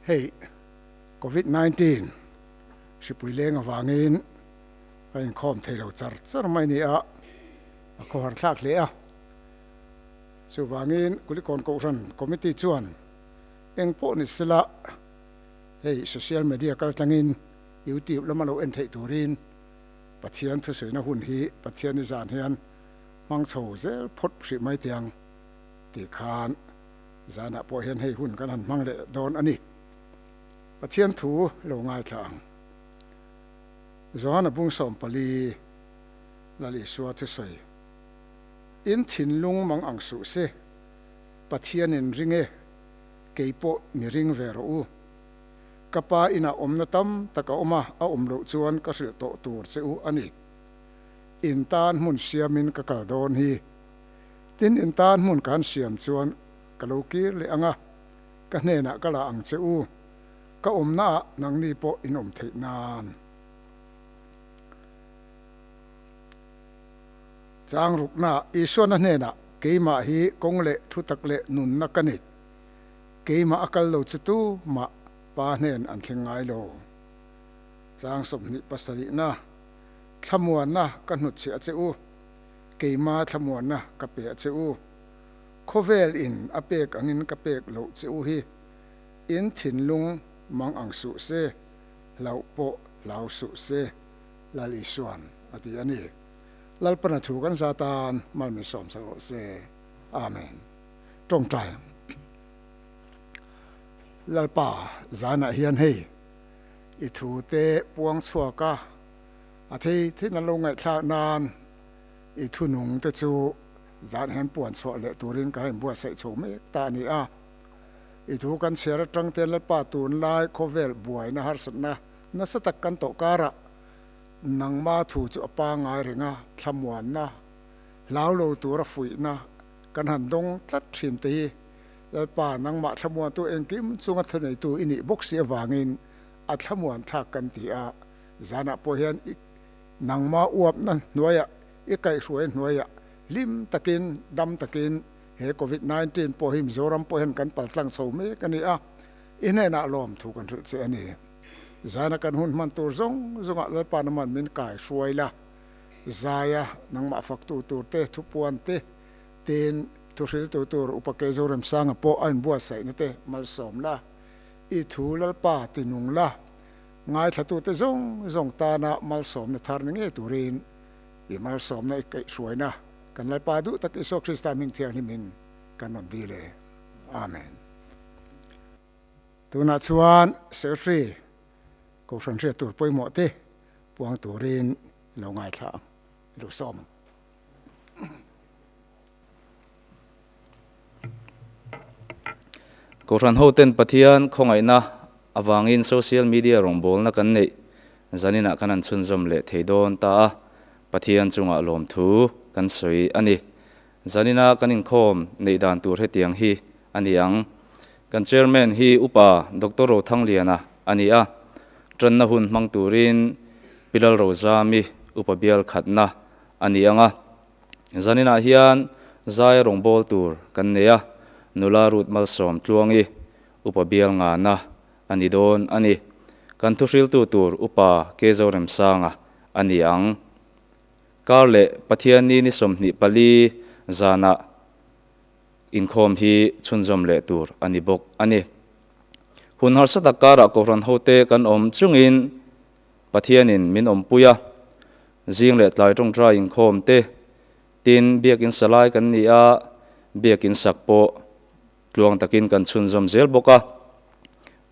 Hei covid nineteen hripui leng avangin ka inkhawm thei lo char char mai ni a, a khaw har thlak hle a, chuvangin Kulikawn Kohhran committee chuan eng pawh ni se la hei social media kaltlangin YouTube lama lo en theih turin, Pathian thusawiina hun hi Pathian-i zan hian hmang chho zel phawt hrih mai tiang tih khan zanah pawh hian hei hun kan han hmang leh dawn a ni. Pathian thu lo ngaithla ang. Johana Bungsawm pali Lal Isua thusawi in thinlung mang ang suh se, Pathianin ring e, kei pawh ni ring ve rawh u. Ka pa inah awmna tam tak a awm a, a awm loh chuan ka hrilh tawh tur che u a ni. In tan hmun siamin ka kal dawn hi. Tin in tan hmun kan siam chuan ka lo kir leh ang a, ka hnenah ka la ang che u, ka awmnaah nangni pawh in awm theih nan. Changrukna, Isuana hnenah keimah hi kawng leh thutak leh nunna ka ni. Keimah a kal lo chu tu mah pa hnen an thleng ngai lo. Chang sawmhnih pasarihna thlamuanna ka hnutchhia a che u, keima thlamuanna ka pe a che u, khawvel in a pek angin ka pek lo che u hi, in thinlung mang ang suh se, hlauh pawh hlau suh se Lal Isuan a ti a ni. Lalpana thu kan za tan malmisawm sa rawh se. Amen. Tawngtai Lalpa zanah hian hei i thu te puang chhuak a, a thei theiin an lo ngaihthlak nan i thunung te chu zan hian puan chhuah leh turin ka rawn buatsaih chho mek ta a ni a. I thu kan chhiar atang ten Lalpa tunlai khawvel buaina harsatna nasa tak kan tawh karah nangma thu chu a pangai reng a, thlamuanna, hlaulo tura fuihna, Kan han dawng tlat thin te hi Lalpa nangmah thlamuantu engkim chung a thaneitu i nih bawk si avangin a thlamuan thlak kan ti a, zanah pawh hian i nangma uapna hnuaia i kaihhruai hnuaia hlim takin dam takin he Covid nineteen pawh hi Mizoram pawh hian kan paltlang chho mek a ni a, i hnenah lawmthu kan hrilh che a ni. Zana kan hun hman tur zawng zawngah Lalpa nangmah min kaihhruai la. Zaia, nangmah faktu tur te, thupuan te, tin, thuhriltu tur Upa Kei Zoremsanga pawh a inbuatsaih na te malsawm la, i thu Lalpa ti nung la, ngaithlatute zawng zawng tana malsawmna thar ni ngei turin i malsawmna i kaih hruaina kan Lalpa duh tak Isua Krista hming thianghlim in kan rawn dil e. Amen. Tunah chuan Secretary, Kohhran Hriat Tur Pawimawh te, puang turin lo ngaithla ang i lo sawm ang. Kohhran hoten Pathian khawngaihna avangin social media rawngbawlna kan neih zaninah kan han chhunzawm leh thei dawn ta a, Pathian chungah lawmthu kan sawi a ni. Zanina kan inkhawm neih dan tur hetiang hi a ni ang, kan Chairman hi Upa Doctor Rothangliana a ni a, tanna hun hmang turin Pilalro Zami upa bial khatna a ni ang a, zaninah hian zai a rawngbâwl tur kan nei a, nula Ruth Malsawm Tluangi upa bial ngana a ni dawn a ni. Kan thuhriltu tur Upa Kei Zoremsanga a ni ang. Kar leh Pathian ni ni sawmhnih pali zanah inkhawm hi chhunzawm leh tur a ni bawk a ni. Hun harsa tak karah kohhran hote kan awm chungin Pathianin min awmpui a, zing leh tlai tawngtai inkhawm te, tin biakin salai kan ni a, biakin sak pawh Tluang takin kan chhunzawm zel bawk a,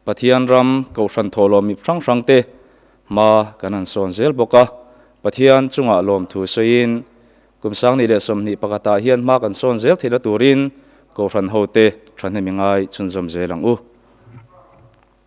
Pathian ram kohhran thawh lawm mi hrang hrangte hma kan han sawn zel bawk a, Pathian chungah lawmthu sawiin kum sangni leh sawmhnih pakhatah hian hma kan sawn zel theih na turin kohhran hote thahnem i ngai chhunzawm zel ang u.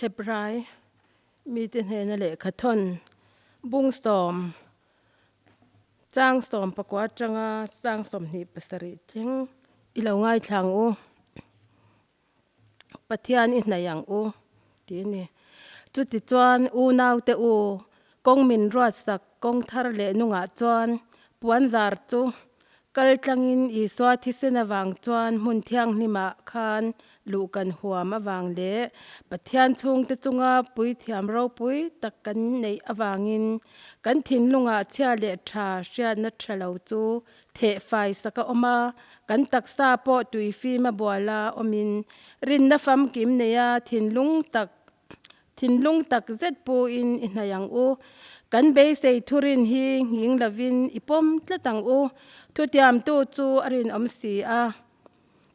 Hebrai mite hnena lehkha thawn bung sawm chang sawm pakua atanga chang sawm hnih pasarih thing i lo ngaithlang u. Pathian i hnaih ang u tih a ni. Chutichuan unaute u kawng min ruatsak kawng thar leh nungah chuan puanzar chu kal tlangin Isua thisen avang chuan hmun thianghlimah khan luh kan huam avang leh Pathian chhungte chunga puithiam ropui tak kan neih avangin kan thinlungah chhia leh tha hriatna tha lo chu theh fai sak a awm a, kan taksa pawh tui fim a bual a awmin rinna famkim nei a, thinlung tak thinlung tak zet pu in i hnaih ang u, kan beisei thu rin hi nghing lovin i pawm tlat ang u, thutiamtu chu a rinawm si a,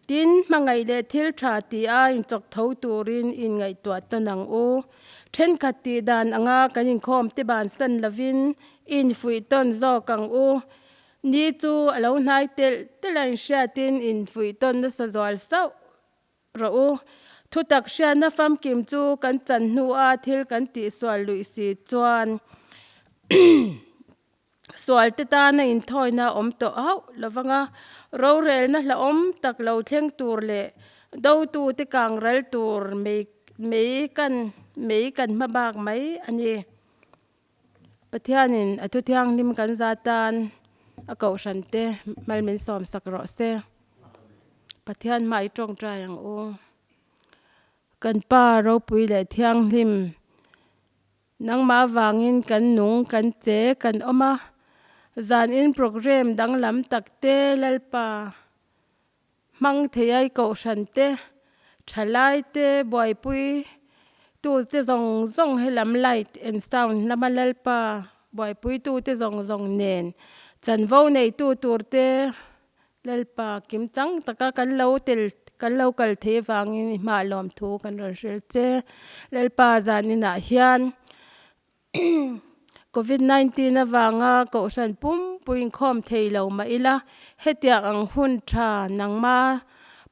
Tin, hmangaih leh thil tha tia inchawk tho turin i ingaihtuah tawn ang u. Thenkhat tih dan anga kan inkhawm tiban san lovin i infuih tawn zawk ang u. Ni chu a lo hnai telh telh a inhriatin i infuih tawn nasa zual sauh rawh u. Thutak hriatna famkim chu kan chan hnua thil kan tihsual luih si chuan sualte tana inthawina awm tawh hauh lo vang a, rorelna hlauhawm tak lo thleng tur leh dotute kang ral tur mai mai kan mai kan hma bak mai a ni. Pathianin a thuthianghlim kan za tan a Kohhrante hmal min sawmsak rawh se. Pathian hmaah i tawngtai ang u. Kan Pa Ropui leh Thianghlim. Nangmah vangin kan nung kan che kan awm a, zan in programme danglam tak te, Lalpa hmang thei ai kohhran te, tha lai te, buaipui tu te zawng zawng he lam light and sound lama Lalpa buaipui tu te zawng zawng nen chanvo nei tu tur te Lalpa, kimchang taka kan lo tel kan lo kal thei avangin i hma lawmthu kan rawn hrel che, lalpa zan inah hian covid nineteen avanga kohhran pumpui inkhawm thei lo mah ila hetiang ang hun tha nangma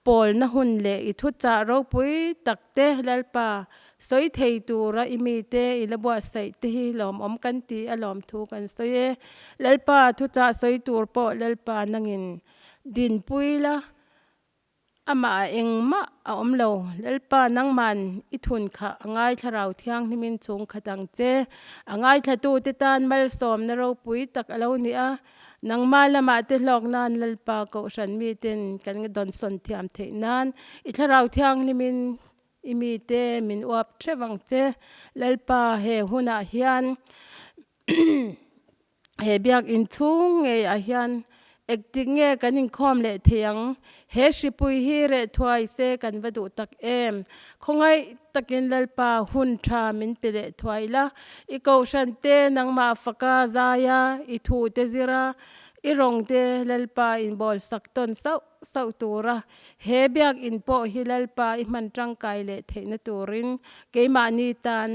pawlna hun leh i thuchah ropui tak Te, Lalpa, sawi thei tura i mite i la buatsaih te hi lawmawm kan ti a lawmthu kan sawi e. Lalpa, thuchah sawi tur pawh Lalpa nangin dinpui la, amah a engmah a awm lo. Lalpa nangman i thun kha a ngai thlarau thianghlimin chhungkhat ang che. A ngaithlatute tan malsawmna ropui tak a lo ni a. Nangma lama te hlawk nan Lalpa Kohhran mi ten kan dawn sawn thiam theih nan i Thlarau Thianghlim in i mi te min uap theuh ang che. Lalpa he hun ah hian he biak inchhung ngei ah hian ek tik nge kan inkhawm leh thei ang. He hripui hi reh thuai se kan va duh tak em! Khawngaih takin Lalpa hun tha min pe leh thuai ila, i kohhran te nangmah faka zaia, i thu te zira, i rawng te Lalpa in bawl sak tawn sauh sauh tura he biakinn pawh hi Lalpa i hman tangkai leh theihna turin keimahni tan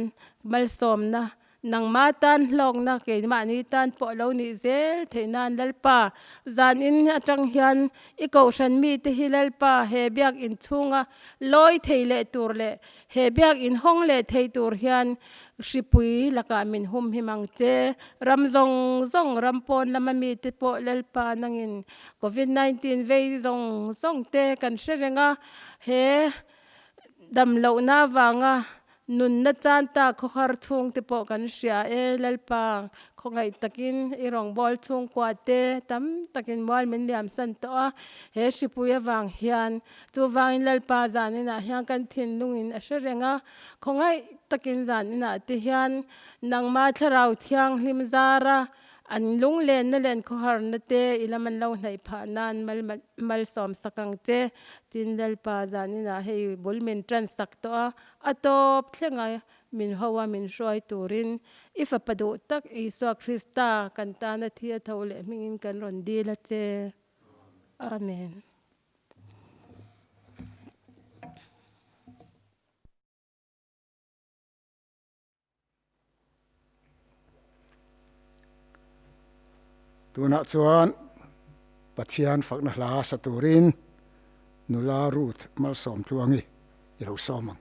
malsawmna Nangma tan hlawkna keimahni tan pawh lo nih zel theih nan Lalpa, zan in atang hian i kohhran mi te hi Lalpa he biak in chhunga lawi thei leh tur leh he biak in hawng leh thei tur hian hripui lakah min hum hi mang che. Ram zawng zawng ram pawn lama mi te pawh Lalpa nang in Covid nineteen vei zawng zawng te kan hre reng a, he damloh na vanga Nunna tan ta khawhar chhung te pawh kan hria e, Lalpa, khawngaih takin i rawngbâwl chhungkua te tam takin mual min liamsan tawh a, he hripui avang hian. Chuvangin Lalpa zan inah hian kan thinlungin a hre reng a, khawngaih takin zan inah te hian nangma Thlarau Thianghlim zara an lunglenna leh an khawharna te i lam an lo hnaih phah nan mal malsawm sak ang che, tin Lalpa zan inah hei bul min ṭan sak tawh a. A tawp thlenga min hoa min hruai turin i Fapa duh tak Isua Krista kan tana thi a tho leh hmingin kan rawn dil a che. Amen. Tunah chuan Pathian fakna hla sa turin nula Ruth malsawm tluangi i lo sawm ang.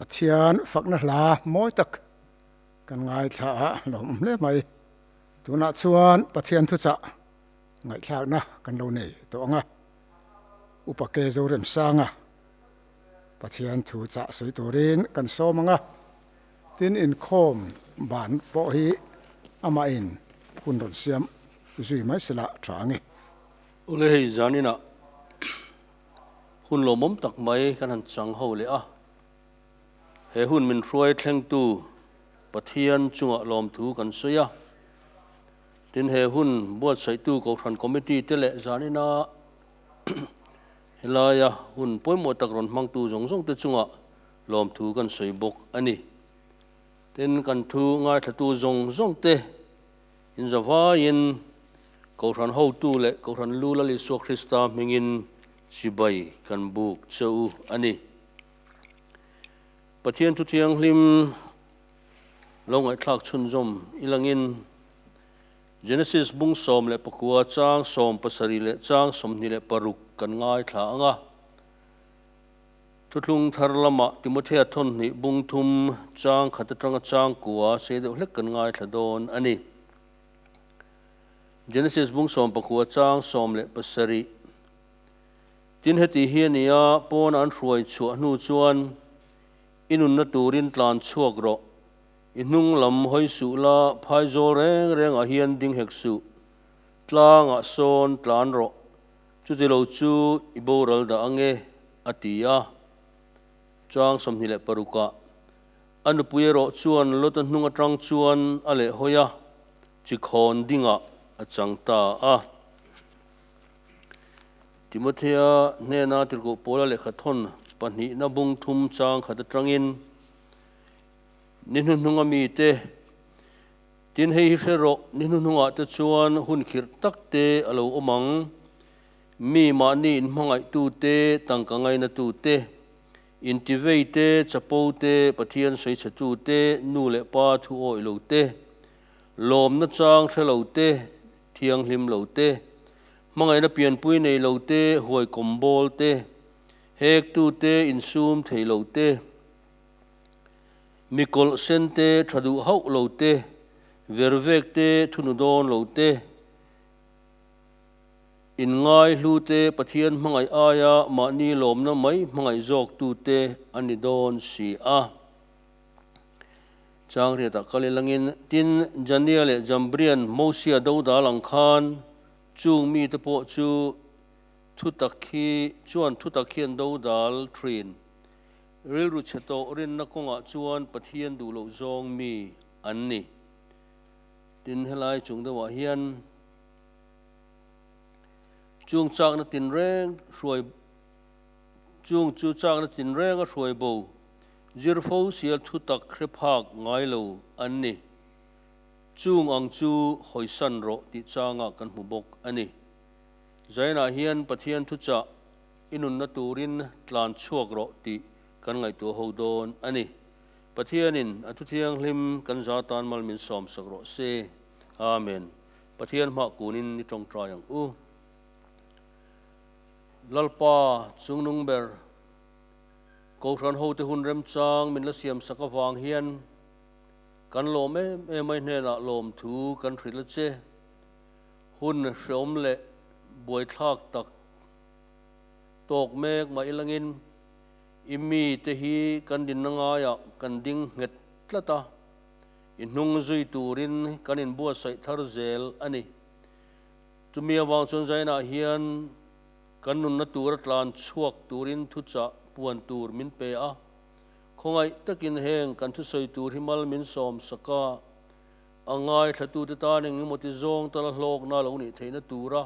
Pathian fakna hla mawi tak kan ngaithla a lawm hle mai. Tunah chuan Pathian thuchah ngaihthlakna kan lo nei tawh ang a, Upa Ke Zoremsanga Pathian thu chah sawi turin kan sawm ang a, tin inkhawm ban pawh hi amahin hun rawn siam zui mai se la tha ang i. Awle hei zaninah hun lawmawm tak mai kan han chang ho leh a. He hun min hruai thlengtu Pathian chungah lawmthu kan sawi a, tin he hun buatsaihtu Kohhran Committee te leh zanina helaia hun pawimawh tak rawn hmangtu zawng zawng te chungah lawmthu kan sawi bawk a ni. Tin, kan thu ngaithlatu zawng zawng te in zavaiin Kohhran hotu leh Kohhran Lu Lal Isua Krista hmingin chibai kan buk che u a ni. Pathian thu thianghlim lo ngaihthlak chhunzawm i langin Genesis bung sawm leh pakua chang sawm pasarih leh chang sawmhnih leh paruk kan ngaithla ang a. Thuthlung thar lama Timothea thawmhnih bung thum chang khat atanga chang kua sei deuh hlek kan ngaithla dawn a ni. Genesis bung sawm pakua chang sawm leh pasarih Tin, heti hi a ni a, pawn an hruai chhuah hnu chuan i nunna turin tlan chhuak rawh, i hnung lam hawi suh la, phaizawl reng rengah hian ding hek suh, tlangah sawn tlan rawh, chuti lo chu i boral dah ang e, a ti a. Chuang sawmhnih leh parukah a nupui erawh chuan lot ahnung atang chuan a leh hawi a, chi khawn dingah a chang ta a. Timothea hnena tirhkoh Paula lehkha thawn pahnihna bung thum chang khat atangin, Ni hnuhnunga mite, tin hei hi hre rawh, ni hnuhnungah te chuan hun khirh tak te a lo awm ang, mi mahni in hmangaihtu te, tangka ngaina tu te, intivei te, chapo te, Pathian sawi chhe tu te, nu leh pa thu awih lo te, lawmna chang hre lo te, thianghlim lo te, Hmangaihna pianpui nei lo te, huaikawm bawl te, hektu te insum thei lo te, mi kawlh sen te tha duh hauh lo te, vervek te thunu dawn lo te, inngai hlu te Pathian hmangaih aia mahni lawmna mai hmangaih zawktu te a ni dawn si a. Changriata kal ilangin, tin, Jania leh Jambrian Mosia Douda lang khan chung mite pawh chu thutak khi chuan thutak hian do dal thin. Rilru chhe tawh rinna kawngah chuan Pathian duh loh zawng mi an ni. Tin, helai chung deuhah hian chung chakna tinreng hruai chung chu chakna tinrenga hruaibo, Zirfo sia thutak hrephak ngai lo an ni. Chung ang chu hawisan rawh tih changa kan hmu bawk a ni. Zainah hian Pathian thuchah i nunna turin tlan chhuak rawh tih kan ngaihtuah ho dawn a ni. Pathianin a thu thianghlim kan za tan mal min sawm sak rawh se. Amen. Pathian hmah kunin ni tawngtai ang u. Lalpa chungnung ber. Kohhran hote hun remchang min la siam sak avang hian kan lawm em em mai hnenah lawmthu kan hrilh a che. Hun hreawm leh buaithlak tak tawk mek mah ilangin i mi te hi kan dinna ngaiah kan ding nghet tlat a, i hnung zui turin kan in buatsaih thar zel a ni. Chumi avang chuan zainah hian Kan nunna tura tlan chhuak turin thuchah puan tur min pe a, khawngaih takin heng kan thusawi tur hi mal min sawm sak a, a ngaithlatute tan engemaw-ti zawng ta la hlawkna lo nih theihna tura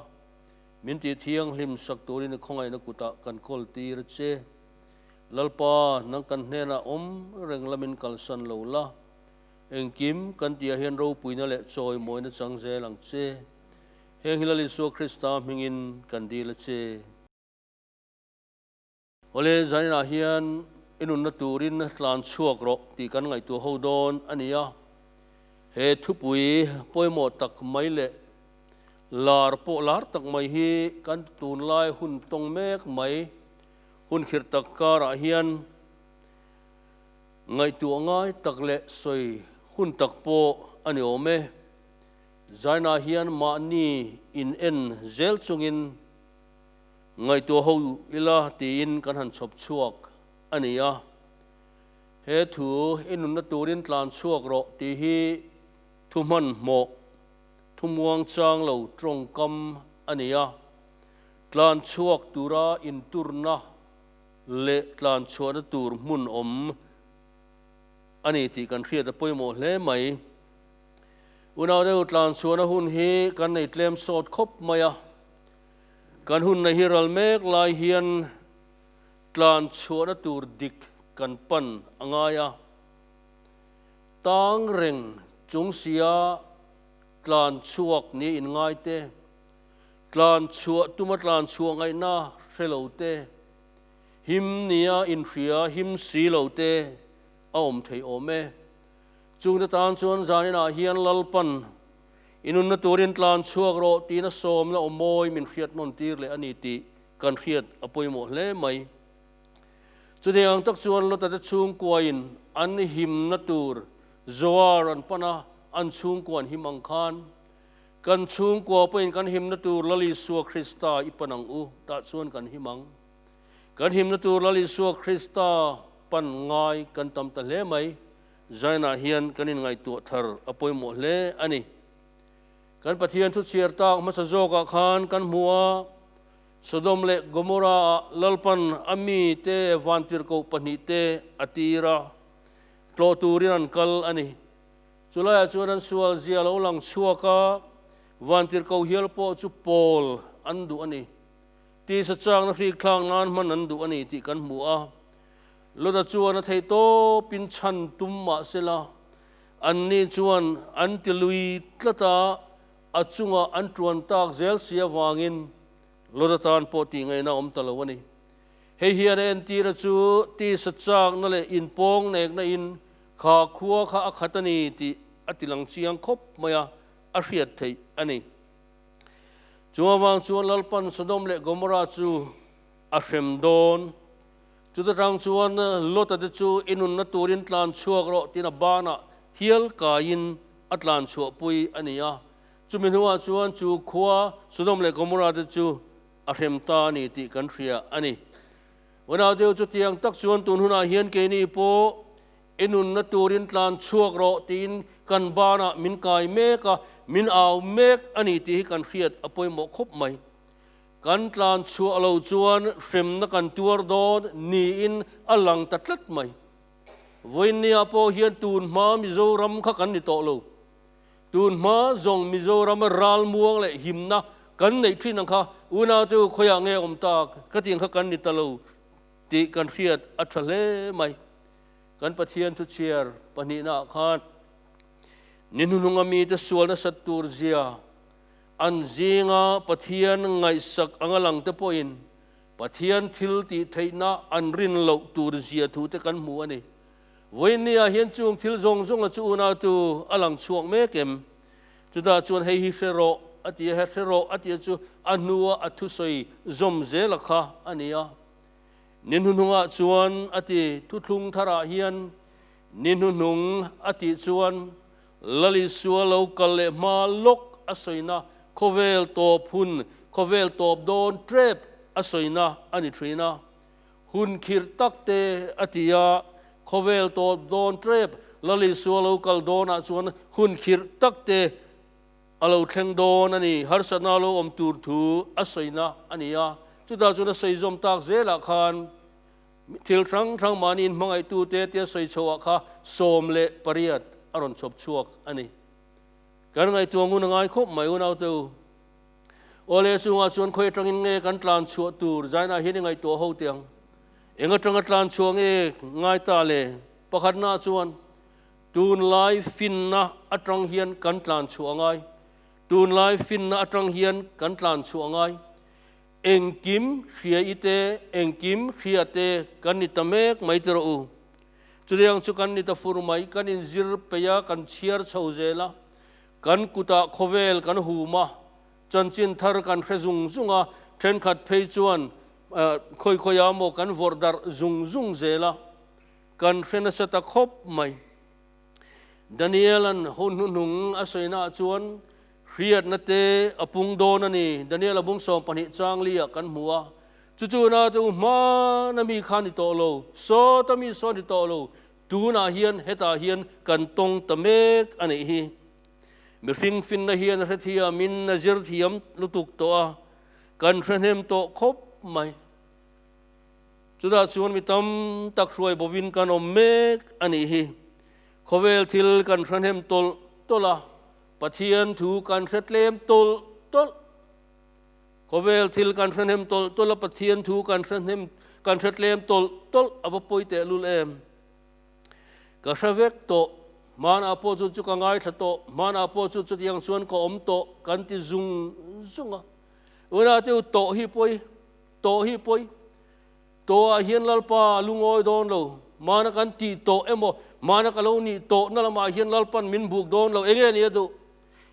min tih thianghlim sak turin i khawngaihna kutah kan kawl tir a che. Lalpa, nang kan hnenah awm reng la min kalsan lo la, engkim kan tihah hian ropuina leh chawimawina chang zel ang che. Heng hi Lal Isua Krista hmingin kan dil a che. Awle, zan inah hian i nunna turin tlan chhuak rawh tih kan ngaihtuah ho dawn a ni a. He thupui pawimawh tak mai leh lar pawh lar tak mai hi kan tunlai hun tawng mek mai hun khirh tak karah hian ngaihtuah ngai tak leh sawi hun tak pawh a ni awm e. Zaina hian mahni in en zel chungin ngaihtuah ho ila tiin kan han chhawp chhuak a ni a, he thu i nunna turin tlan chhuak rawh tih hi thu hmanhmawh, thumuang chang lo tawngkam a ni a, tlan chhuak tura inturna leh tlan chhuahna tur hmunawm a ni tih kan hriat a pawimawh hle mai. Unaudeu tlanchhuahna hun hi kan nei tlem sawt khawp mai a. Kan hun nei hi ral mek lai hian tlanchhuahna tur dik kan pan a ngai a. Tang reng chung sia tlanchhuak niin ngai te, tlanchhuah tuma tlanchhuah ngaihna hre lo te, him nia inhria him si lo te a awm thei awm e. Chungte tan chuan zanin ah hian Lalpan i nunna turin tlan chhuak rawh tihna sawm la awmawi min hriat nawn tir leh a ni tih kan hriat a pawimawh hle mai. Chutih ang tak chuan Lotate chhungkuain an i himna tur Zoar an pan a, an chhungkuan him ang khan kan chhungkua pawhin kan himna tur Lalisua Krista i pan ang u tah chuan kan him ang. Kan himna tur Lal Isua Krista pan ngai kan tam ta hle mai. Zion-ah hian kan inngaihtuah thar a pawimawh hle a ni. Kan Pathian thu chhiar tak hmasa zawkah khan kan hmu a, Sodom leh Gomorrah-ah lalpan a mite vantirhkoh pahnih te a tir a, tlawh turin an kal a ni. Chulaiah chuan an sual zia lo lang chhuak a, vantirhkoh hial pawh chu pawl an duh a ni. Tisa châkna hrikthlâng nân hman an duh a ni tih kan hmu a, Lota chuan a theih tâwpin chhan tum mah sela, anni chuan an ti lui tlat a, a chunga an ṭuan tâk zêl si avângin Lota tân pawh tihngeihna awm ta lo a ni. Hei hian a entîra chu tisa châkna leh inpâwng neknain kha khua kha a khat a ni tih a tilang chiang khawp maia a hriat theih a ni. Chungavang chuan Lalpan Sodom leh Gomorrah chu a hrem dawn. Chuti tang chuan Lota te chu i nunna turin tlan chhuak rawh tiin a bana hial kaiin a tlan chhuahpui a ni a. Chumi hnuah chuan chu khua Sodom leh Gomorrah te chu a hrem ta a ni tih kan hria a ni. Unau deuh chutiang tak chuan tunhunah hian keini pawh I nunna turin tlan chhuak rawh tiin kan banah min kai mek a, min au mek a ni tih hi kan hriat a pawimawh khawp mai. Kan tlan chhuah lo chuan hremna kan tuar dawn niin a lang ta tlat mai. Vawinia pawh hian tun hma Mizoram kha kan ni tawh lo. Tun hma zawng Mizorama ral muang leh himna kan neih thin ang kha unaute u khawiah nge awm tak ka tih ang kha kan ni ta lo Tih kan hriat a tha hle mai. Kan Pathian thuchhiar pahnihna ah khan ni hnuhnunga mite sual nasat tur zia an zinga Pathian ngaihsak a ngalang te pawhin Pathian thil tih theihna an rin loh tur zia thu te kan hmu a ni. Vawiin ni ah hian chung thil zawng zawnga chu unau tu a lang chhuak mek em? Chutah chuan hei hi hre rawh a tia, he hre rawh a tia chu a hnua a thusawi zawm zela kha a ni a. Ni hnuhnungah chuan a ti, thuthlung tharah hian ni hnuhnung a tih chuan Lalisua lo kal leh hma lawk a sawina khawvel tawp hun, khawvel tawp dawn trep a sawina a ni thin a. Hun khirh tak te a ti a, khawvel tawp dawn trep Lali Sual lo kal dawnah chuan hun khirh tak te a lo thleng dawn a ni. Harsatna lo awm tur thu a sawina a ni a, chutah chuan a sawi zawm tak zelah khan thil hrang hrang mahniin hmangaihtute'n tia sawi chhohah kha sawm leh pariat a rawn chhawp chhuak a ni. Kan ngaihtuah ngun a ngai khawp mai unaute u. Awle chungah chuan khawi atangin nge kan tlan chhuah tur zainah hian i ngaihtuah ho teh ang? Eng atanga tlan chhuah nge ngai ta le? Pakhatnaah chuan tunlai finna atang hian kan tlan chhuah a ngai. Tunlai finna atang hian kan tlan chhuah a ngai. Engkim hria i te, engkim hria te kan ni ta mek mai ti rawh u. Chutiang chu kan ni ta fur mai, kan inzir peih a, kan chhiar chho zel a, Kan kutah khawvel kan hum a, chanchin thar kan hre zung zung a, thenkhat phei chuan khawi khawi a maw kan vawrh darh zung zung zel a, kan hre nasa ta khawp mai. Daniel-a'n hun hnuhnung a sawi naah chuan hriatna te a pung dawn a ni. Daniel-a bung sawm pahnih changlia kan hmu a, chu chu nate u hmana mi khan ni tawh lo, sawta mi sawn ni tawh lo, Tunah hian hetah hian kan tawng ta mek a nih hi. Mihring finna hian hrethiam in a zir thiam lutuk tawh a, kan hrehnem tawh khawp mai. Chutah chuan mi tam tak hruai bo in kan awm mek a nih hi. Khawvel thil kan hrehnem tawlh tawlh a, Pathian thu kan hretlem tawlh tawlh. Khawvel thil kan hrahnem tawlh tawlh a, Pathian thu kan hrahnem, kan hretlem tawlh tawlh a, va pawi tehlul em. Ka hre vek tawh, hmanah pawh chu chu ka ngaithla tawh, hmanah pawh chu chutiang chuan ka awm tawh, kan ti zung zung a. Unatio tawh hi pawi, tawh hi pawi, tawhah hian Lalpa a lu ngawi dawn lo, hmana kan ti tawh emaw, hmana ka lo nih tawhna lamah hian Lalpan min buk dawn lo, enge nia duh?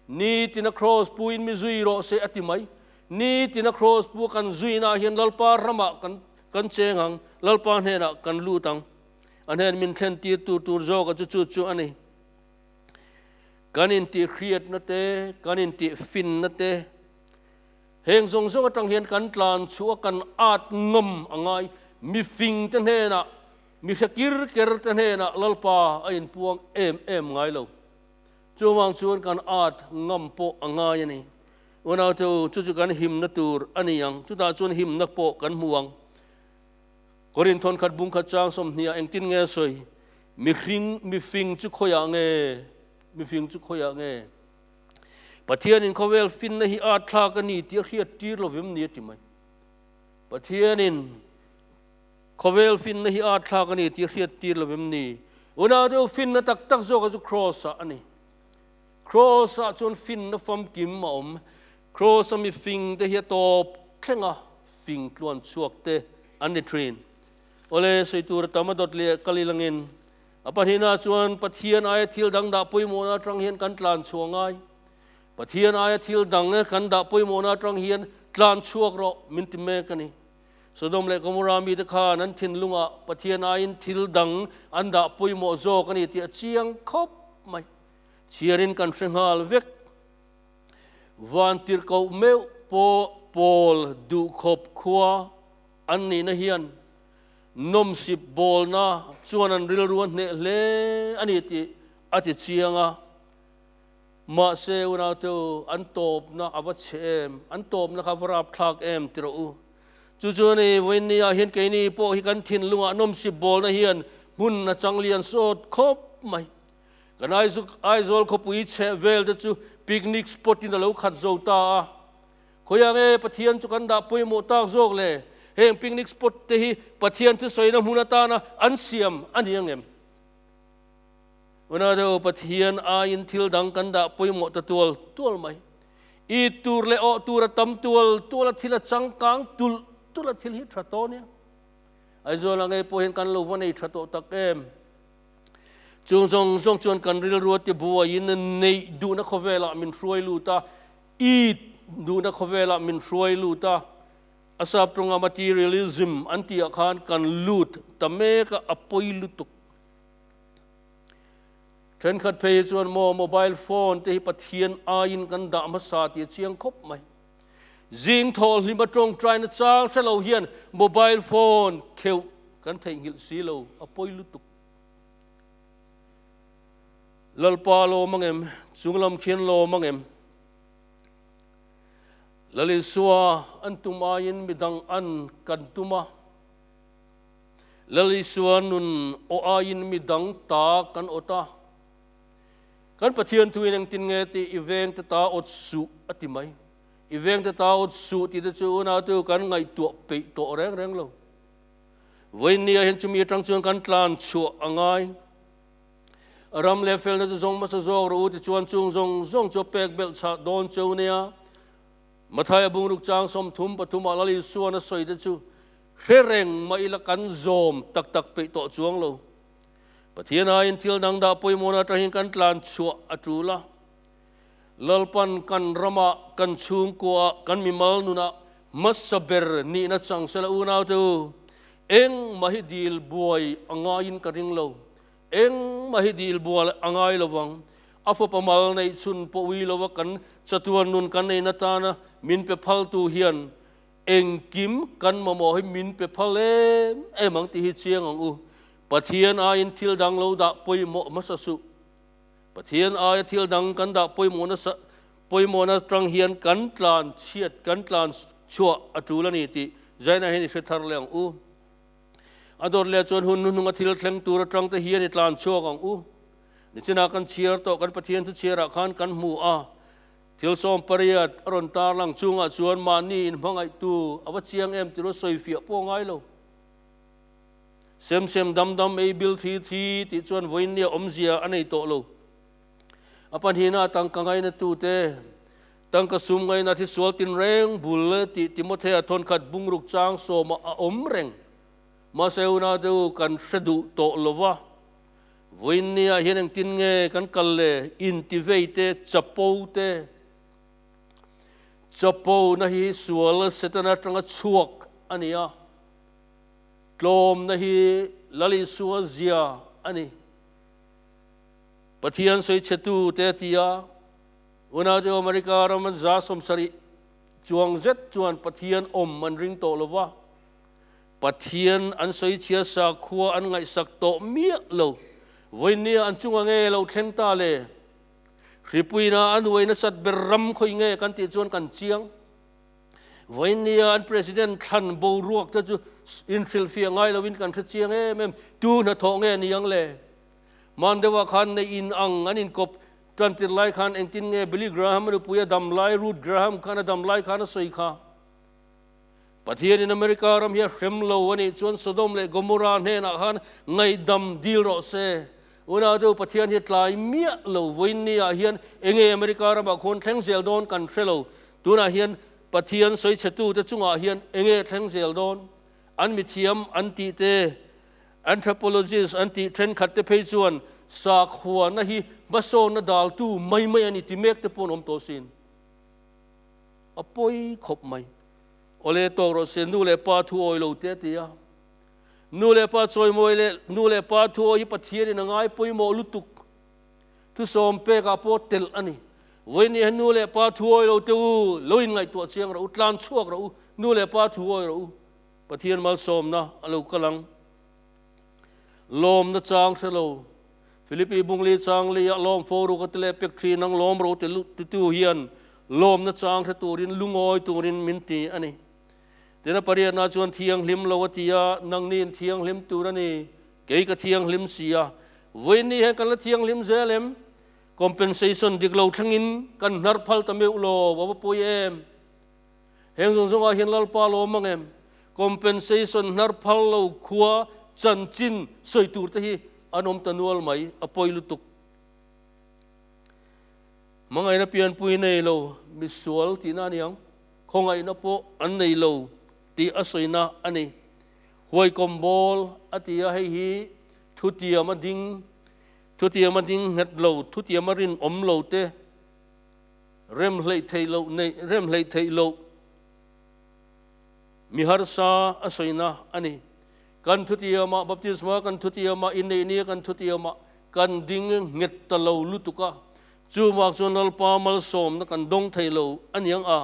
Nitina Kraws pu in mi zui rawh se a ti mai. Nitina Kraws pu kan zui naah hian Lalpa ramah kan kan cheng ang, Lalpa hnenah kan lut ang. A hnen min thlen tir tur tur zawka chu chu chu a ni. Kan intih hriatna te, kan intih finna te, heng zawng zawng atang hian kan tlan chhuh a, kan at ngam a ngai. Mifing te hnenah, mi hre kir ker te hnenah Lalpa a inpuang em em ngai lo. Chuvang chuan kan at ngam pawh a ngai a ni. Unaute u, chu chu kan himna tur a ni ang. Chutah chuan himna pawh kan hmu ang. Korin thawnkhat bungkhat chang sawmhniah engtin nge sawi? Mihring, mifing chu khawiah nge? Mifing chu khawiah nge? Pathianin khawvel finna hi at thlak a ni tih a hriat tir lovem ni a ti mai. Pathianin. Khawvel finna hi arthlak a ni tih a hriattir lo em ni? Unau deuh finna tak tak zawkah chu Kraws ah a ni. Kraws ah chuan finna famkim a awm. Kraws a mifing te hi a tawp thleng a, fing tluan chhuak te an ni thin. Awle, sawi tur a tam a dawt leh kal ilangin. A pahnihna chuan Pathian aia thil dang dah pawimawhna atang hian kan tlan chhuah ngai. Pathian aia thil dang kan dah pawimawhna atang hian tlan chhuak rawh, min ti mek a ni. Sodom leh Gomorrah mite khan an thinlungah Pathian aiin thil dang an dah pawimawh zawk a ni tih a chiang khawp mai. Chhiarin kan hre nghal vek. Van tirhkoh meuh pawh Paul duh khawp khua an nihna hian nawm sip bawlna chuan an rilru a hneh hle a ni tih a ti chiang a. Mahse, unaute u, an tawpna a va chhe em? An tawpna kha va rapthlak em? Ti rawh u. Chu chuan i, Vawinia hian keini pawh hi kan thinlungah nawmsip bawlna hian hmun a chang lian sawt khawp mai. Kan Aizuk, Aizawl khawpui chheh velte chu picnic spot-in a lo khat zo ta a. Khawi ang e, Pathian chu kan dah pawimawh tak zawk le. Heng picnic spot te hi Pathian thusawiina hmun atana an siam a ni ang em? Una deuh Pathian aiin thil dang kan dah pawimawh ta tual tual mai. It tur leh awh tur a tam tual tual a thil a changkang tulh tulh a thil hi tha tawh nia. Aizawl angei pawh hian kan lo va nei tha tawh tak em. Chung zawng zawng chuan kan rilrua te buaiin neih duhna khawvelah min hruai lut a, it duhna khawvelah min hruai lut a, a sap tawngah materialism an tihah khan kan lut ta mek a, a pawi lutuk Thenkhat phei hi chuan maw mobile phone te hi Pathian aiin kan dah hmasa tih a chiang khawp mai. Zing thawhlim a tawngtaina chang ṭha lo hian mobile phone kheuh kan theihnghilh si lo, a pawi lutuk. Lalpa lawm ang em? Chunglam khian lawm ang em? Lalisua an tum aiin midang an kan tum a. Lalisua nun aw aiin mi dang ta kan awt a, kan Pathian thu in engtin nge ti, i vengte ta awt suh a ti mai. I vengte ta awt suh ti te chu unautu kan ngaihtuah peih tawh reng reng lo. Vawiinni ah hian chumi atang chuan kan tlan chhuah a ngai. Ram leh felna chu zawng hmasa zawk rawh u ti chuan chung zawng zawng chu a pek belh chhah dawn cheu nia. Mathai a bungruk chang sawm thum pathum ah Lalisua na sawi te chu, Thlereng mah ila kan zawm tak tak peih tawh chuang lo. Pathian aiin thil dang dah pawimawhna aṭangin kan tlan chhuah a ṭul a. Lalpan kan ramah, kan chhungkuaah, kan mimal nunah hmasa ber nihna chang sela unaute u. Engmah hi dil buai a ngaiin ka ring lo. Engmah hi dil bual a ngai lo vang. A fapa mal neih chhun pawh ui lova kan chatuar nun kan neihna tana min pe phaltu hian Engkim kan mamawh hi min pe phal em em ang tih hi chiang ang u. Pathian aiin thil dang lo dah pawimawh hmasa suh. Pathian aia thil dang kan dah pawimawh nasa pawimawh na tang hian kan tlan chhiat kan tlan chhuah a tul a ni tih Jaina hian i hre thar leh ang u. A dawt leh chuan hun hnuhnung a thil thleng tur atang te hian i tlan chhuak ang u. Nichinah kan chhiar tawh kan Pathian thuchhiarah khan kan hmu a, Thil sawm pariat a rawn tarlang chungah chuan mahni in hmangaihtu a va chiang em tih rawh sawi fiah pawh ngai lo. Sem sem dam dam ei bil thi thi tih chuan vawinia awmzia a nei tawh lo. A pahnihna a tangka ngainatute, tangka sum ngaina thi sual tin reng bul tih Timothea thawnkhat bungruk chang sawmah a awm reng. Mahse unau deuh kan hre duh tawh lova Vawiin nia hian engtin nge kan kal le? Intivei te, chapo te. Chapo na hi sual setan atanga chhuak a ni a. Tlawm na hi Lali sua zia a ni. Pathian sawi chetu te a ti a. Unau te America ram an za sawm sarih chuang zet chuan Pathian awm an ring tawh lova. Pathian an sawichhia sakhua an ngaihsak tawh miah lo. Vawinia an chunga nge lo thleng ta le? Hripuina a nuai nasat ber ram khawi nge kan tih chuan kan chiang? Vawinia an President thlan boruak te chu inhrilhfiah ngai loin kan hre chiang em em? Tu hnathawh nge ni ang le? Hman deuhah khan nei in ang an inkawp tantir lai khan engtin nge Billy Graham a nupui a dam lai Ruth Graham khan a dam lai khan a sawi kha? Pathianin America ram hi a hrem lo a nih chuan Sodom leh Gomorrah hnenah khan ngaihdam dil rawh se. Unautu Pathian hi tlai miah lo vawiin ni ah hian enge America ramah khawn thleng zel dawn kan hre lo. Tunah hian Pathian sawichhetu te chungah hian enge thleng zel dawn? An mithiam an tih te, anthropologists, an tih thenkhat te phei chuan sakhuana hi hmasawnna daltu mai mai a ni ti mek te pawh an awm tawh sin. A pawi khawp mai. Awle tawk rawh se, nu leh pa thu awi lo teh ti a. Nu leh pa chawimawi leh nu leh pa thu awi hi Pathianin a ngai pawimawh lutuk. Thusawm pekah pawh telh a ni. Vawinia he nu leh pa thu awi lo teh u, lo inngaihtuah chiang rawh u, tlan chhuak rawh u, nu leh pa thu awi rawh u. Pathian malsawmna a lo kal ang. Lawm na chang hre lo. Philippi Bungli Changli a lawm fo ru ka ti leh pek thin ang lawm ro ti ti tu hian lawm na chang hre turin lungawi turin min ti a ni. Tin a pariatna chuan thianghlim lo a ti a, nangni in thianghlim tur a ni, kei ka thianghlim si a, vawiinni hian kan la thianghlim zel em? Compensation dik lo thlengin kan hnarh phal ta meuh law, a va pawi em? Heng zawng zawngah hian Lalpa a lo awm ang em? Compensation hnar phal lo khua chanchin sawi tur te hi an awm ta nual mai a pawi lutuk. Hmangaihna pianpui nei lo misual tihna a ni ang, khawngaihna pawh an nei lo tih a sawina a ni. Huaikawm bawl a ti a, hei hi thutiam a ding, thutiam a ding nghet lo, thutiam a rinawm lo te Rem hleih theih loh nei rem hleih theih loh mi harsa a sawina a ni. Kan thutiama baptisma kan thutiama inneih nia kan thutiama kan ding nghet ta lo lutuk a, chuvak chuan lalpa malsawmna kan dawng thei lo aniang a,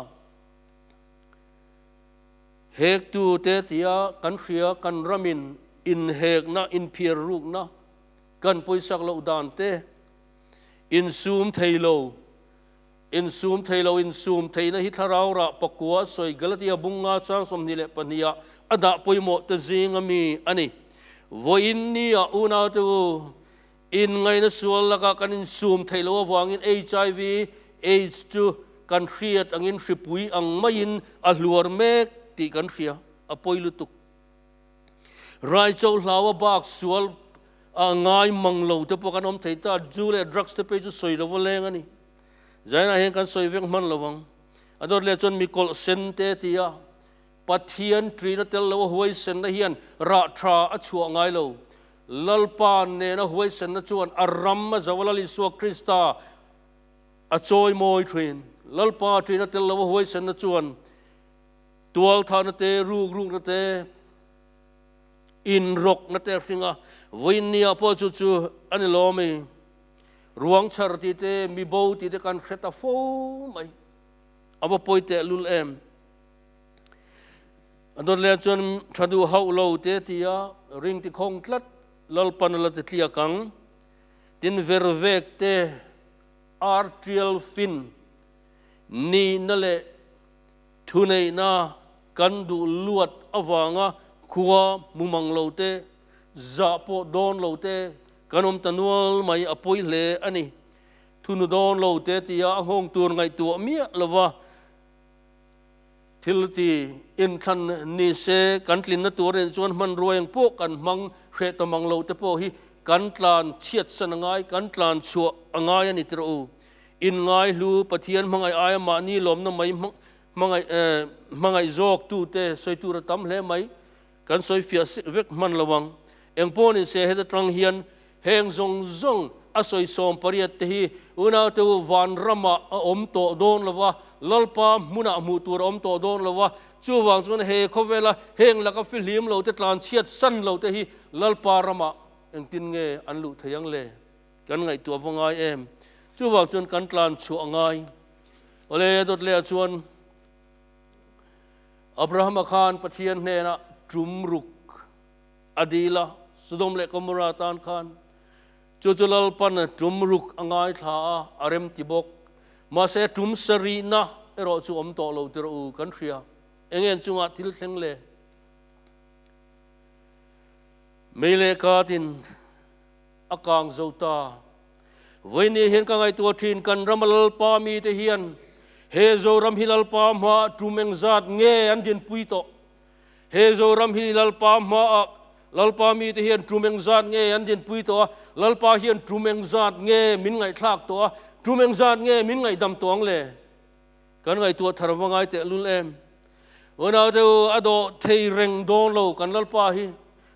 hektu te tia kan hria kan ramin inhekna inphiar rukna kan pawisak loh dan te, Insum thei lo, insum thei lo, insum theihna hi thlarau rah pakua a sawi, Galatia bung nga chang sawmhnih leh pahnih ah a dah pawimawh te zing a mi a ni. Vawiin nia unautu in ngaihna sual laka kan insum theih lo avangin HIV, aids chu kan hriat angin hripui ang maiin a hluar mek tih kan hria a pawi lutuk. Raichau hlaua bak sual a ngai mang lo te pawh kan awm thei ta, Jew leh Drugs te pei chu sawi lo va leng a ni. Zainah hian kan sawi vek hman lo ang. A dawt leh chuan mi kawlh sen te a ti a, Pathian ṭin a tel loh a huaisenna hian rah ṭha a chhuah ngai lo. Lalpa nena huaisenna chuan a ram a zauh a, Lal Isua Krista a chawi mawi ṭhin. Lalpa ṭin a tel loh a huaisenna chuan. Tual thahna te, ruk rukna te, in rawkna te hringa vawiin ni ah pawh chu chu a ni lawm e. Ruang chhar ti te, mi bo ti te kan hre ta fo mai. A va pawi teh lul em. A dawtlen chuan tha duh hauh lo te ti a, ring ti khawng tlat, Lalpana la ti tliak ang. Tin ver vek te, ar tial fin nihna leh. Thuneihna, Kan duh luat avanga khua hmu mang lo te, zah pawh dawn lo te kan awm ta nual mai a pawi hle a ni. Thunu dawn lo te tia a nghawng tur ngaihtuah miah lova thil ti inthlan ni se kan tlinna turin chuan hmanruai ang pawh kan hmang hreh ta mang lo te pawh hi kan tlan chhiatsan a ngai, kan tlan chhuah a ngai a ni tirh u. Inngaihlu, Pathian hmangaih aia mahni lawmna mai hmangaih hmangaih zawktute sawi tur a tam hle mai, kan sawi fiah vek hman lo ang. Engpawh ni se heta tang hian heng zawng zawng a sawi sawm pariat te hi unaute u van ramah a awm tawh dawn lo va, Lalpa hmunah hmuh tur a awm tawh dawn lo va, chuvang chuan he khawvela heng laka fihlim lote tlanchhiat san lote hi Lalpa ramah engtin nge an luh thei ang le? Kan ngaihtuah va ngai em? Chuvak chuan kan tlan chhuah a ngai. Awle, a Dawtlea chuan Abrahama khan Pathian hnenah ṭum ruk a dil a, Sodom leh Gomora tan khan chu chu lalpan ṭum ruk a ngaithla a, a rem ti bawk. Mahse, ṭum sa rihna erawh chu awm tawh lo ti rawh u, kan hria. Engen chungah thil thleng le mei leh katin A kang zo ta. Vawi nih hian ka ngaihtuah thin, kan rama Lalpa mite hian he Zoram hi Lalpa hmaah tum engzat nge an dinpui tawh? He Zoram hi Lalpa hmaah Lalpa mite hian tum engzat nge an dinpui tawh a? Lalpa hian tum engzat nge min ngaihthlak tawh a? Tum engzat nge min ngaihdam tawh ang le? Kan ngaihtuah thar va ngai tehlul em! Unau deuh a dawh thei reng dawn lo kan Lalpa hi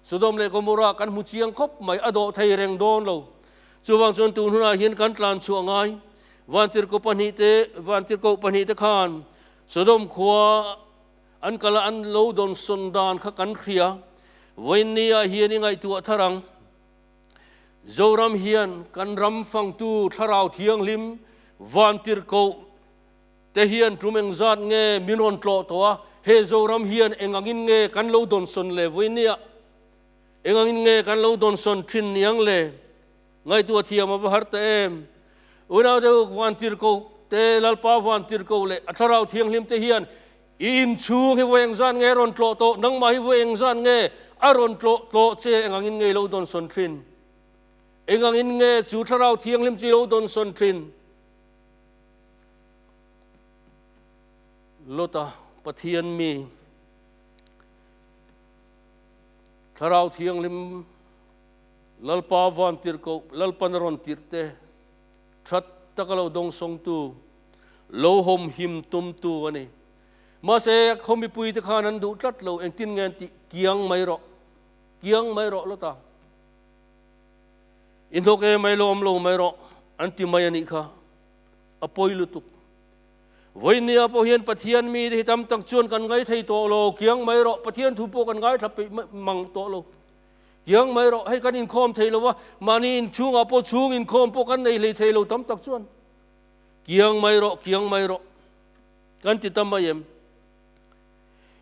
Sodom leh Gomorrah kan hmu chiang khawp mai a dawh thei reng dawn lo. Chuvang chuan tun hunah hian kan tlan chhuah ngai. Vantirhko pahnih te, vantirhkoh pahnih te khan Sodom khua an kal a an lo dawnsawn dan kha kan hria. Vawiin ni ah hian i ngaihtuah thar ang. Zoram hian kan ram fangtu Thlarau Thianghlim Vantirhkoh te hian tum engzat nge min rawn tlawh tawh a, he Zoram hian engangin nge kan lo dawnsawn le vawi nia? Engangin nge kan lo dawnsawn thin niang le? Ngaitu a thiam a va har ta em? Unaute Uk Vantirhkoh te, Lalpa Vantirhkoh leh a Thlarau Thianghlim te hian I inchhung hi vawiin zan nge rawn tlawh tawh? Nangmah hi vawiin zan nge a rawn tlawh tawh che? Engangin nge i lo dawnsawn thin? Engangin nge chu Thlarau Thianghlim chu i lo dawnsawn thin? Lota Pathian mi Thlarau Thianghlim Lalpa van tirh koh, Lalpan a rawn tirh te. that tak a lo dawng sawngtu, lo hawm him tumtu a ni. Mahse, khaw mipuite khan an duh tlat lo, engtin nge an tih? Kiang mai rawh, kiang mai rawh lawt a, i hnawk em mai lawm lo mai rawh an ti mai a nih kha. A pawi lutuk. Vawinia pawh hian Pathian mi te hi tam tak chuan kan ngaithei tawh lo, kiang mai rawh, Pathian thu pawh kan ngaithla peih mang tawh lo. Tiang mai rawh, hei kan inkhawm thei lo a, mahni inchhungah pawh chhung inkhawm pawh kan nei hlei thei lo tam tak chuan kiang mai rawh, kiang mai rawh kan ti ta mai em?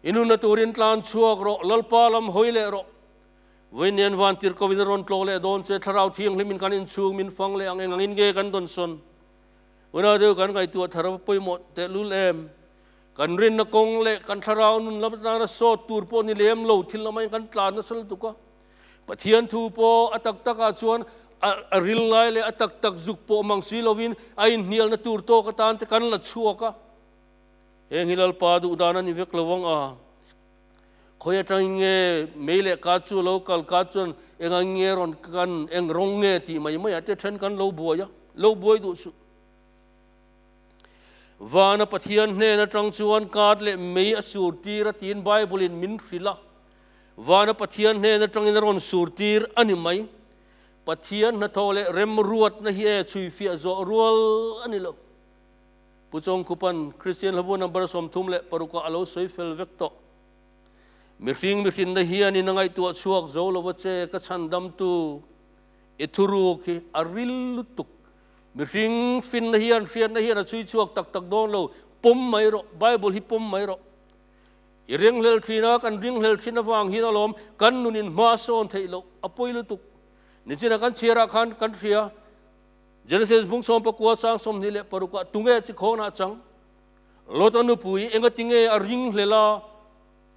I nunna turin tlan chhuak rawh, Lalpa lam hawi leh rawh. Vawiinian vantir kovin a rawn tlawh leh dawn che, thlarau thianghlimin kan inchhung min fang leh ang engangin nge kan dawn sawn? Unau deuh kan ngaihtuah thar a va pawimawh tehlul em? Kan rinna kawng leh kan thlarau nun lam atana sawt tur pawh ni lem lo thil lama in kan tlan nasal tuk a. Pathian thu pawh a tak tak ah chuan a a ril ngai leh a tak tak zuk pawh mang si lo in a in hnialna tur tawk atan te kan la chhuak a. Heng hi Lalpa duh dan a ni vek lo ang a. Khawi atangin nge mei leh ka chu a lo kal ka chuan eng ang in nge rawn kan eng rawng nge tih mai mai ah te then kan lo buai a. Lo buai duh suh. Vana Pathian hnen atang chuan kât leh mei a sur tîr a tiin Bible-in min hrilh a. Vana Pathian hnen atangin a rawn sur tîr a ni mai. Pathian hnathawh leh remruatna hi e chhuifiah zawh rual a ni lo. Pu Chawngkhupan, Kristian Hlavua Number sawmthum leh paruk-ah a lo sawi fel vek tawh. Mihring mihrinna hian in a ngaihtuah chhuak zo lo va che, ka chhandamtu, i thuruk hi a ril lutuk Mihring finna hian hriatna hian a chhui chhuak tak tak dawn lo. Pawm mai rawh, Bible hi pawm mai rawh. I ringhlel thin a, kan ringhlel thin avang hian a lawm. Kan nun in hma sawn theih loh, a pawi lutuk. Nichin a kan chhiar ah khan kan hria. Genesis bung sawm pakua sang sawmhnih leh paruk ah tunge a chi khawnah chang? Lot a nupui engatinge a ringhlel a?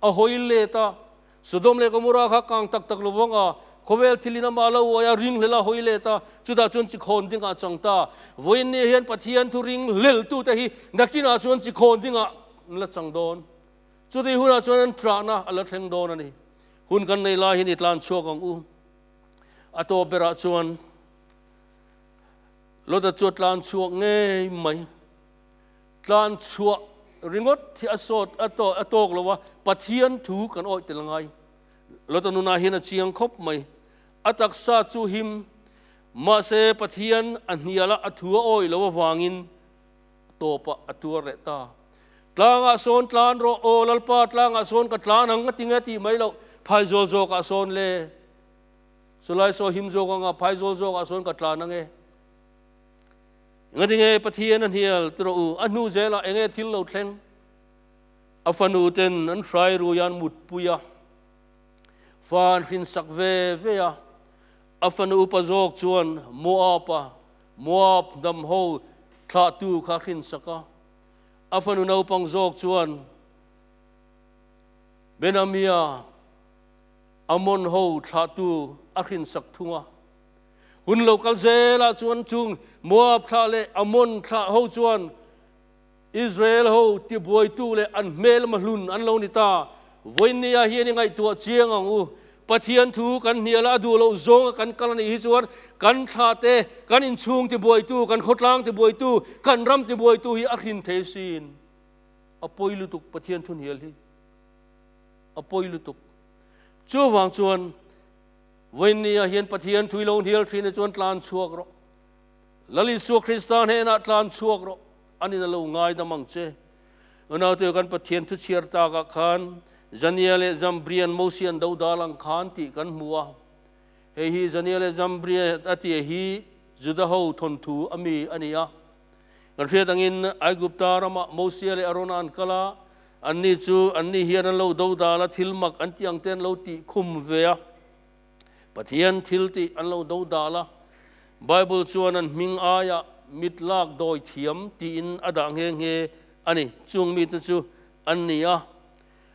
A hawi let a, Sodom leh Gomorrah kha kang tak tak lo vang a, khawvel thil in amah lo uai a, ring hlel a hawi let a, chutah chuan chi khawn dingah chang ta. Vawiin nia hian Pathian thuring hleltute hi nakinah chuan chi khawn dingah an la chang dawn. Chutih hunah chuan an hrahna a la thleng dawn a ni. Hun kan nei laiin i tlan chhuak ang u. A tawp berah chuan Lota chu a tlan chhuak ngei mai. Tlan chhuah ringawt hi a sawt a a tawk lo a, Pathian thu kan awih tel ngai. Lota nunah hian a chiang khawp mai. A taksa chu him, mahse Pathian a hniala a thu a awih lo avangin tawpa a tuar leh ta. Tlangah sawn tlan rawh, aw Lalpa tlangah sawn ka tlan ang ka ti nge tih mai loh, phai zawl zawkah sawn le? Chulai saw him zawk anga phai zawl zawkah sawn ka tlan ange? Enga ti nge Pathian a hnial ti rawh u, a hnu zelah enge thil lo thleng? A fanu ten an hrai ruia an mut pui a, fa an hrinsak ve ve a, a fanu upa zawk chuan Moapa, Moap hnam ho thlahtu kha a hrinsak a, a fanu naupang zawk chuan Benamia, Ammon ho thlahtu a hrinsak thung a. Hun lo kal zel ah chuan chung Moab thla leh Ammon thla ho chuan Israel ho tibuaitu leh an hmelma hlun an lo ni ta. Vawiin ni ah hian i ngaihtuah chiang ang u. Pathian thu kan hnial a, a duh loh zawng a kan kal a nih hi chuan kan thla te, kan inchhung tibuaitu, kan khawtlang tibuaitu, kan ram tibuaitu hi a hrin thei sin. A pawi lutuk Pathian thu hnial hi. A pawi lutuk. Chuvang chuan. Vawiin ni ah hian Pathian thui lo hnial thin ah chuan tlan chhuak rawh. Lal Isua Krista hnen ah tlan chhuak rawh an in a lo ngaidam ang che. Unaute kan Pathian thu chhiar tak ah khan Zania leh Zambria-n Mosey an do dal ang khan tih kan hmu a. Hei hi Zania leh Zambria a tia hi Juda ho thawnthu a mi a ni a. Kan hriat angin Aigupta ramah Mosea leh Arona an kal a, anni chu annih hian an lo do dal a, thil mak an tih angte an lo tih khum ve a. Pathian thil tih an lo do dal a. Bible chuan an hming aiah mit lak dawi thiam tiin a dah nghe nghe a ni. Chung mite chu an ni a,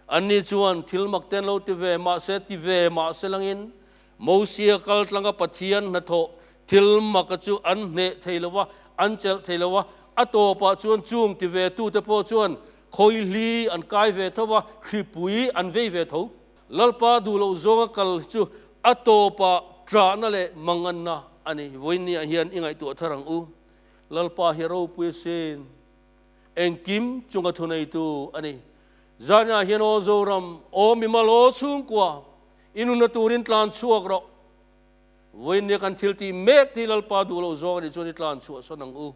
Anni chuan thil mak te an lo ti ve mah se, ti ve mah se langin Mosia kaltlanga Pathian hnathawh thil maka chu an hneh thei lo va, an chelh thei lo va. A tawpah chuan chung ti ve tute pawh chuan khawihli an kai ve tho va, hripui an vei ve tho. Lalpa duhloh zawnga kal hi chu a tawpah ṭahna leh manganna a ni. Vawinia hian i ngaihtuah thar ang u. Lalpa hi a ropui asin. Engkim chunga thuneitu a ni. Zaniah hian aw Zoram, aw mimal, aw chhungkua, i nunna turin tlan chhuak rawh. Vawiin nia kan thil tih mek hi Lalpa duh lo zawng a nih chuan i tlan chhuahsan ang u,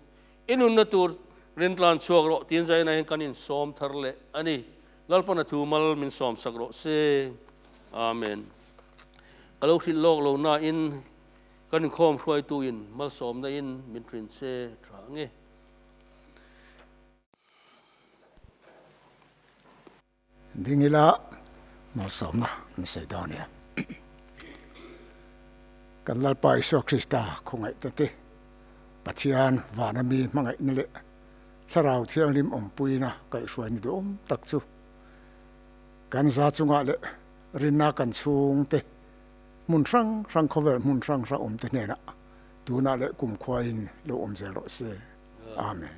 i nunna tur rin tlan chhuak rawh tiin Zaniah hian kan insawm thar leh a ni. Lalpa na thu mal min sawmsak rawh se. Amen. Ka lo hrilh lawk lo nain kan inkhawm hruaitu in malsawmna in min ṭhin che ṭha ang e. Ding ila malsawmna kan sawi dawn ania kan Lalpa Isua Krista khawngaihna te Pathian vana mi hmangaihna leh Thlarau Thianghlim awmpuina kaihhruaina duhawm tak chu kan za chungah leh rinna kan chhungte hmun hrang hrang khawvel hmun hrang hrang awmte hnenah Tunah leh kumkhua in lo awm zel rawh se. Amen.